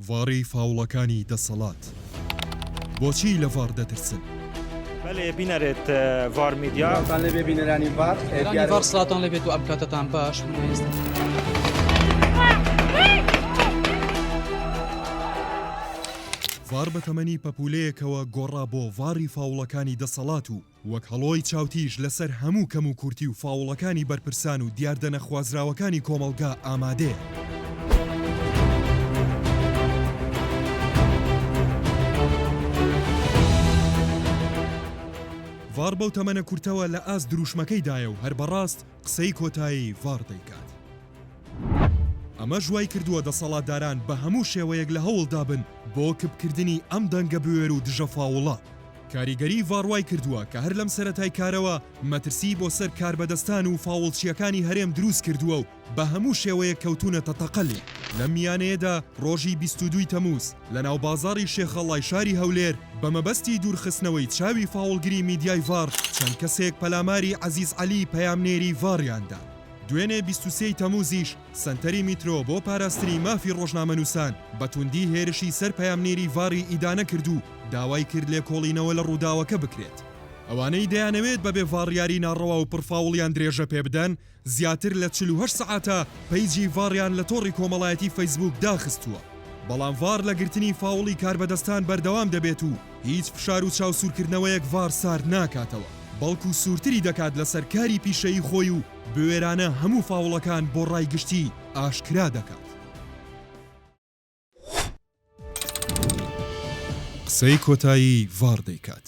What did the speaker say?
ڤاڕی فاوڵەکانی دەسەڵات بۆچی لە ڤاڕ دەترسن؟ بەلێ بینەرێت ڤار میدیا. سڵاوتان لێبێ بینەرانی ڤار ئێ دیارە ڤار سڵاوتان لێبێت و ئەم کاتەتان باش من ئێستا. ڤار بە تەمەنی پەپولەیەکەوە گۆڕا بۆ ڤاڕی فاوڵەکانی دەسەڵات و وەک هەڵۆی چاوتیژ لەسەر هەموو کەموکورتی و فاوڵەکانی بەرپرسان و دیاردە نەخوازراوەکانی کۆمەڵگا ئامادەیە. ڤاڕ بەو تەمەنە کورتەوە لە ئاست درووشمەکەیدایە و هەر بەڕاست قسەی کۆتایی ڤاڕ دەیکات. ئەمەش وایکردووە دەسەڵاتداران بە هەموو شێوەیەک لە هەوڵدابن بۆ کپکردنی ئەم دەنگە بوێر و دژە فاوڵە. کاریگەریی ڤاڕ وایکردووە کە هەر لەم سەرەتای کارەوە مەترسیی بۆ سەر کاربەدەستان و فاوڵچییەکانی هەرێم دروستکردووە و بە هەموو شێوەیەک کەوتوونەتە تەقە لێ. لەم میانەیەدا ڕۆژی بیست و دوو ی تەمووز، لە ناوبازاڕی شێخەڵای شاری هەولێر بە مەبەستی دوورخستنەوەی چاوی فاوڵگری میدیای ڤاڕ چەند کەسێک پەلاماری عەزیز عەلی پەیامنێری ڤاڕیان دا. دوێنێ بیست و سێ ی تەمووزیش سەنتەری میترۆ بۆ پاراستنی مافی ڕۆژنامەنووسان بە توندی هێرشی سەر پەیامنێری ڤاڕی ئیدانە کرد و داوای کرد لێکۆڵینەوە لە ڕووداوەکە بکرێت. ئەوانەی دەیانەوێت بەبێ ڤاڕیاری ناڕەوا و پڕفاوڵیان درێژە پێبدەن، زیاتر لە چل و هەشت سەعاتە پەیجی ڤاڕیان لە تۆڕی کۆمەڵایەتی فەیسبووک داخستووە، بەڵام ڤاڕ لە گرتنی فاوڵی کاربەدەستان بەردەوام دەبێت و هیچ فشار و چاوسوورکردنەوەیەک ڤاڕ سارد ناکاتەوە، بەڵکو سوورتری دەکات لەسەر کاری پیشەیی خۆی و بوێرانە هەموو فاوڵەکان بۆ ڕای گشتی ئاشکرا دەکات. قسەی کۆتایی ڤاڕ دەیکات.